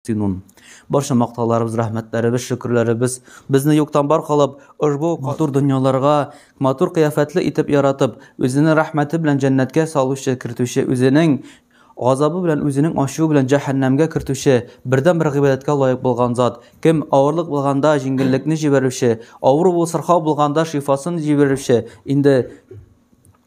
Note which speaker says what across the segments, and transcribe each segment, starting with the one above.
Speaker 1: Синун. Барча мактауларыбыз, рәхмәтләребез, шөкерләребез безне юктан бар кылып, ошбу матур дөньяларга, матур кыяфәтле итеп яратып, үзенең рәхмәте белән җәннәткә салучы, кертүче, үзенең газабы белән, үзенең ачуы белән җәһәннәмгә кертүче, бердәнбер гыйбадәткә лаек булган зат. Кем авырлык булганда җиңеллекне җибәрүче, авыру, сырхау булганда шифасын җибәрүче, инде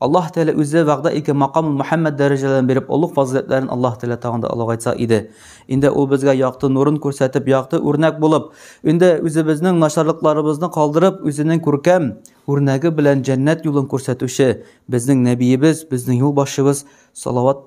Speaker 1: Аллаһ Тәгалә үзе вәгъдә иткән макамул Мөхәммәд дәрәҗәләрен биреп, олуг фазыйләтләрен Аллаһ Тәгалә тагын да олыгайтса иде. Инде ул безгә якты нурын күрсәтеп, якты үрнәк булып, инде үзебезнең начарлыкларыбызны калдырып, үзенең күркәм үрнәге белән җәннәт юлын күрсәтүче безнең Нәбиебез, безнең юлбашчыбыз салават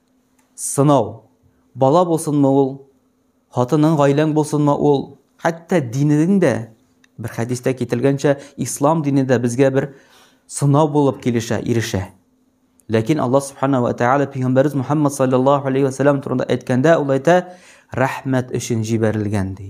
Speaker 1: Сынау. Бала булсынмы ул, хатының, гаиләң булсынмы ул, хәтта динең дә, бер хәдистә кителгәнчә, ислам дине дә безгә бер сынау булып килешә, ирешә. Ләкин Аллаһ Субханаһу ва Тааля пәйгамбәрбез Мухаммад саллаллаһу алейхи ва сәлләм турында әйткәндә, ул әйтә, рәхмәт өчен җибәрелгән ди.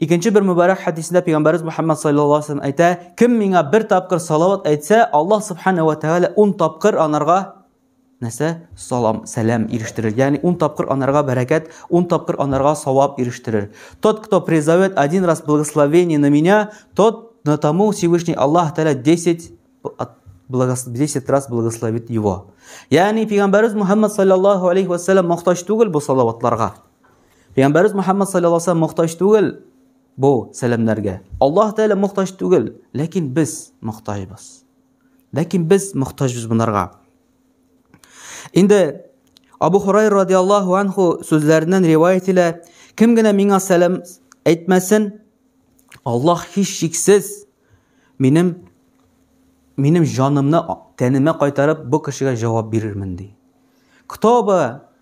Speaker 1: Икенче бер мөбарәк хәдисендә пәйгамбәрбез Мөхәммәд саллаллаһу алейһи ва әйтә, кем миңа бер тапкыр салават әйтсә, Аллаһ субхана ва тәгалә 10 тапкыр анарга нәрсә? Салам, сәлам ирештерер. Ягъни 10 тапкыр анарга бәрәкәт, 10 тапкыр анарга савап ирештерер. Тот, кто призовет один раз благословение на меня, тот на тому Всевышний Аллаһ Тәгалә 10 10 раз благословит его. Ягъни пәйгамбәрбез Мөхәммәд саллаллаһу алейһи ва сәллам мохтаҗ түгел бу салаватларга. Пәйгамбәрбез Мөхәммәд саллаллаһу алейһи ва саллям мохтаҗ түгел бу сәламнәргә. Аллаһ Тәгалә мохтаҗ түгел, ләкин без мохтаҗбыз. Ләкин без мохтаҗбыз бунарга. Инде Абу Хурайр радиаллаһу анху сүзләреннән риваять итә, кем генә миңа сәлам әйтмәсен, Аллаһ һич шиксез минем минем җанымны тәнемә кайтарып бу кешегә җавап бирермен ди. Кто бы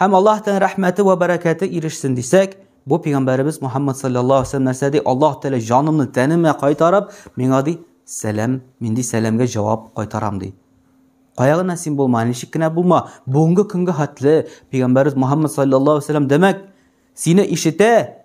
Speaker 1: Һәм Аллаһтан рәхмәте вә бәрәкәте ирешсен дисәк, бу пигамбәребез Мухаммад саллаллаһу алейһи вәсәлләм нәрсә ди? Аллаһ Тәгалә җанымны тәнемә кайтарып, миңа ди, сәлам, мин ди сәламгә җавап кайтарам ди. Кая гына син булма, ничек кенә булма, бүгенге көнгә хәтле пигамбәребез Мухаммад саллаллаһу алейһи вәсәлләм димәк, сине ишетә,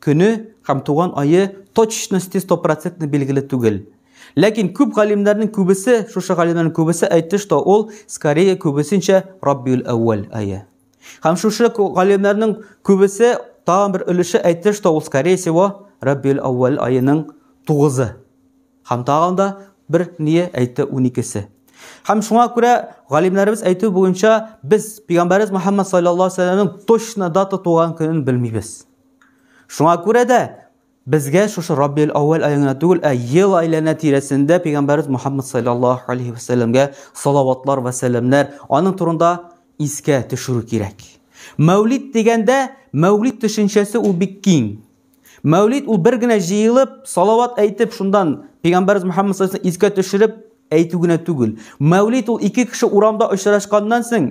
Speaker 1: Көне һәм туган ае точносте стопроцентно билгеле түгел. Ләкин күп галимнәрнең күбесе, шушы галимнәрнең күбесе әйтте, что ул скорее күбесенчә Раббиул-әүвәл ае. Һәм шушы галимнәрнең күбесе тагын бер өлеше әйтте, что ул скорее всего Раббиул-әүвәл аеның тугызы. Һәм тагын да бер ние әйтте уникесе. Һәм шуңа күрә галимнәребез әйтү буенча без пигамбәребез Мөхәммәд саллаллаһу алейһи ва сәлләмнең точно дата туган көнен белмибез. Шуңа күрә дә безгә шушы Раббил Аввал аягына түгел, ә ел айлана тирәсендә пәйгамбәрбез Мухаммад саллаллаһу алейхи ва сәлламгә салаватлар ва сәламнәр, аның турында искә төшерү кирәк. Мәүлид дигәндә, мәүлид төшенчәсе ул бик киң. Мәүлид ул бер генә җыелып, салават әйтеп, шундан пәйгамбәрбез Мухаммад саллаллаһу алейхи искә төшереп әйтү генә түгел. Мәүлид ул ике кеше урамда очрашканнан соң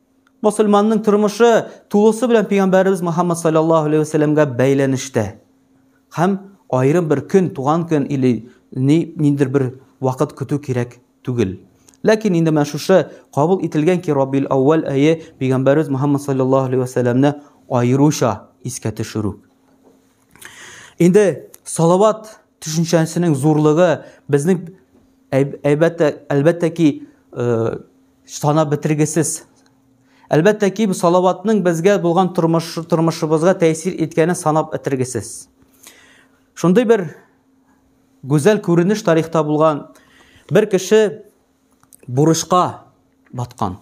Speaker 1: Мусульманның тормышы тулысы белән пәйгамбәребез Мөхәммәд саллаллаһу алейһи вәсәлләмгә бәйләнештә. Һәм аерым бер көн, туган көн или ни ниндер бер вакыт көтү кирәк түгел. Ләкин инде менә шушы кабул ителгән ки Раббил Аввал әйе пәйгамбәребез Мөхәммәд саллаллаһу алейһи вәсәлләмне аеруча искә төшерү. Инде салават төшенчәсенең зурлыгы безнең әлбәттә әлбәттә ки э, Санап бетергесез. Әлбәттә ки, салаватның безгә булган тормыш, тормышыбызга тәэсир иткәне санап бетергесез. Шундый бер гүзәл күренеш тарихта булган бер кеше бурычка баткан.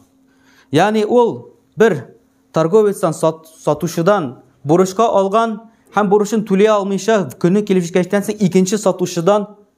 Speaker 1: Ягъни ул бер торговецтан сат, сатучыдан бурычка алган һәм бурычын түли алмыйча көне килеп җиткәчтән соң икенче сатучыдан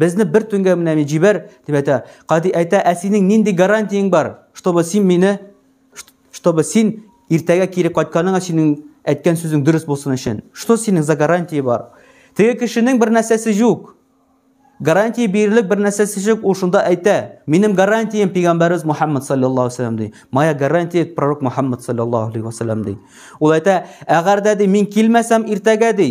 Speaker 1: Безне бер төнгә менә мин җибәр, дип әйтә. Кади әйтә, ә синең нинди гарантияң бар, чтобы син мине, чтобы син иртәгә кире кайтканыңа синең әйткән сүзең дөрес булсын өчен. Что синең за гарантия бар? Теге кешенең бер нәрсәсе юк. Гарантия бирерлек бер нәрсәсе юк, ул шунда әйтә. Минем гарантиям пигамбәрбез Мухаммад саллаллаһу алейһи ди. Моя гарантия пророк Мухаммад саллаллаһу алейһи ди. Ул әйтә, әгәр дә ди мин килмәсәм иртәгә ди,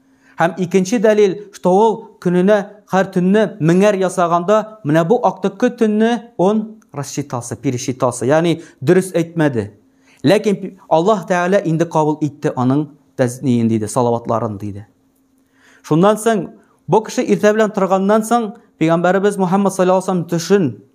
Speaker 1: Һәм икенче дәлил, что ул көненә һәр төнне меңәр ясаганда, менә бу актыккы төнне он рассчитался, пересчитался, ягъни дөрес әйтмәде. Ләкин Аллаһ Тәгалә инде кабул итте аның тәзниен диде, салаватларын диде. Шуннан соң бу кеше иртә белән торганнан соң пәйгамбәребез Мухаммад саллаллаху алейһи төшен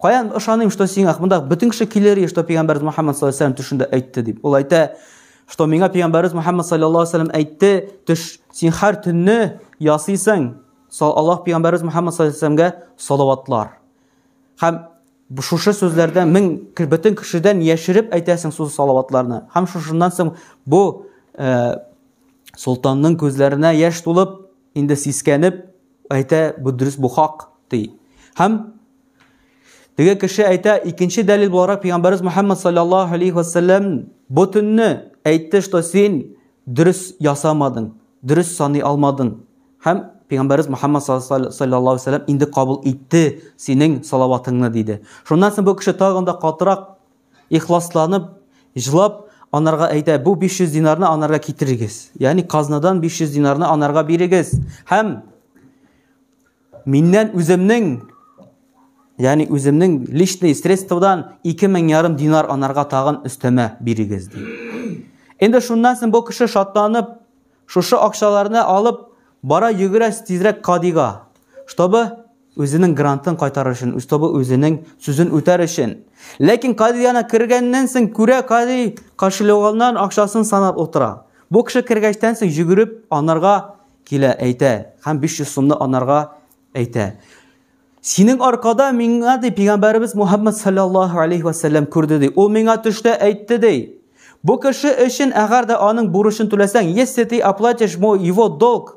Speaker 1: Каян ышаныйм, что сиңа монда бөтен кеше килер и что пигамбәр Мухаммад саллаллаһу алейһи төшендә әйтте дип. Ул әйтә, что миңа пигамбәр Мухаммад саллаллаһу алейһи әйтте, төш син һәр төнне ясыйсың. Аллаһ пигамбәр Мухаммад саллаллаһу алейһи салаватлар. Һәм шушы сүзләрдән мең бөтен кешедән яшереп әйтәсең су салаватларны. Һәм шушыннан соң бу э, солтанның күзләренә яшь тулып, инде сискәнеп әйтә, бу дөрес, бу хак, ди. Һәм теге кеше әйтә, икенче дәлил буларак Пәйгамбәрбез Мөхәммәд саллаллаһу алейхи ва саллям бу төнне әйтте, что син дөрес ясамадың, дөрес саный алмадың. Һәм Пәйгамбәрбез Мөхәммәд саллаллаһу алейхи ва саллям инде кабул итте синең салаватыңны, диде. Шуннан соң бу кеше тагын да катырак ихласланып, җлап, анарга әйтә, бу 500 динарны анарга китерегез. Яни казнадан 500 динарны анарга бирегез. Һәм миннән үземнең, яни үземнең личный средстводан 2000 ярым динар анарга тагын өстәмә бирегез. Инде шуннан соң бу кеше шатланып, шушы акчаларны алып, бара йөгерә тизрәк кадига, чтобы Үзенең грантын кайтарыр өчен, Устьтобы үзенең сүзен үтәр өчен. Ләкин Кади яна кергәннән соң күрә, Кади кошелегыннан акчасын санап утыра. Бу кеше кергәчтән соң йөгереп анарга килә, әйтә, һәм 500 сумны анарга әйтә. Синең аркада миңа ди пигамбәребез Мухаммад саллаллаһу алейхи ва саллям күрде ди. Ул миңа төштә әйтте ди. Бу кеше өчен әгәр дә аның бурычын түләсәң, если ты оплатишь мой его долг,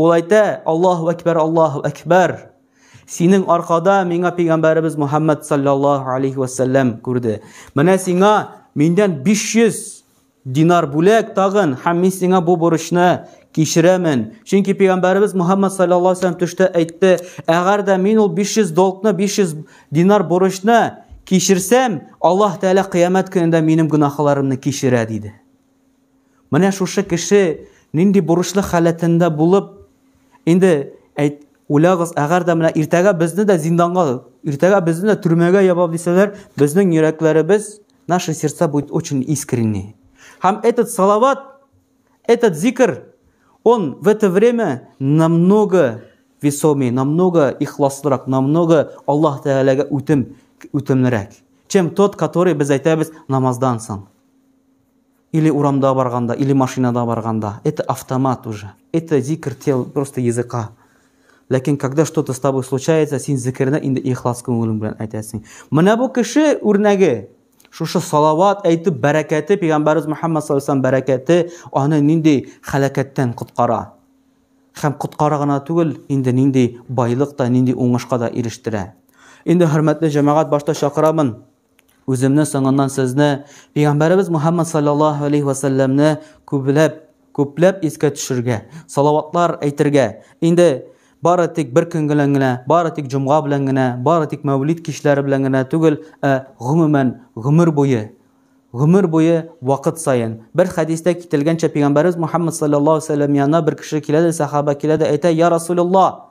Speaker 1: Ул әйтә, Аллаһу әкбәр, Аллаһу әкбәр. Синең аркада миңа пәйгамбәребез Мухаммад саллаллаһу алейхи вәсәлләм күрде. Менә сиңа миндән 500 динар бүләк тагын һәм мин сиңа бу бурычны кичерәмен. Чөнки пәйгамбәребез Мухаммад саллаллаһу алейхи вәсәлләм төштә әйтте, әгәр дә мин ул 500 долгны, 500 динар бурычны кичерсәм, Аллаһ Тәгалә кыямәт көнендә минем гөнаһларымны кичерә диде. Менә шушы кеше нинди бурычлы халәтендә булып, инде әйт, уйлагыз, әгәр дә менә иртәгә безне дә зинданга, иртәгә безне дә төрмәгә ябап дисәләр, безнең йөрәкләребез, наши сердца будет очень искренне. Һәм этот салават, этот зикр, он в это время намного весомее, намного ихласлырак, намного Аллаһ Тәгаләгә үтем, үтемлерәк, чем тот, который без әйтәбез намаздан соң. или урамда барганда, или машинада барганда. Это автомат уже. Это зикр тел, просто языка. Ләкин когда что-то с тобой случается, син зикерне инде ихлас күңелең белән әйтәсең. Менә бу кеше үрнәге. Шушы салават әйтеп бәрәкәте, пәйгамбәрбез Мөхәммәд саллаллаһу алейһи бәрәкәте аны нинди халәкәттән коткара. Хәм коткара гына түгел, инде нинди байлык та, нинди уңышка да ирештерә. Инде хөрмәтле җәмәгать башта чакырамын. Үземне соңыннан сезне, Пәйгамбәребез Мухаммад саллаллаһу алейхи ва сәлләмне күпләп, күпләп искә төшергә, салаватлар әйтергә. Инде бары тик бер көн белән генә, бары тик җомга белән генә, бары тик мәүлид кичләре белән генә түгел, ә гомумән гомер буе гомер буе вакыт саен. Бер хәдистә кителгәнчә, Пәйгамбәребез Мухаммад саллаллаһу алейхи ва сәлләм янына бер кеше килә дә, сахаба килә дә әйтә, "Я Расулулла,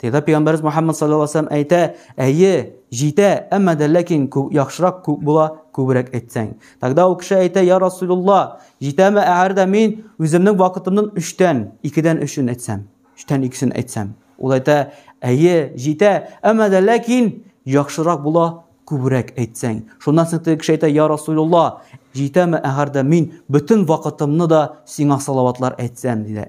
Speaker 1: Тегә пәйгамбәрбез Мухаммад саллаллаһу алейһи ва әйтә, әйе, җитә, әмма дә ләкин күп яхшырак күп була, күбрәк әйтсәң. Тогда ул кеше әйтә, я Расулулла, җитәме әгәр дә мин үземнең вакытымның 3тән, 2дән 3ен әйтсәм, 3тән 2сен әйтсәм. Ул әйтә, әйе, җитә, әмма дә ләкин яхшырак була, күбрәк әйтсәң. Шуннан соң теге кеше әйтә, я Расулулла, җитәме әгәр дә мин бөтен вакытымны да сиңа салаватлар әйтсәм, диде.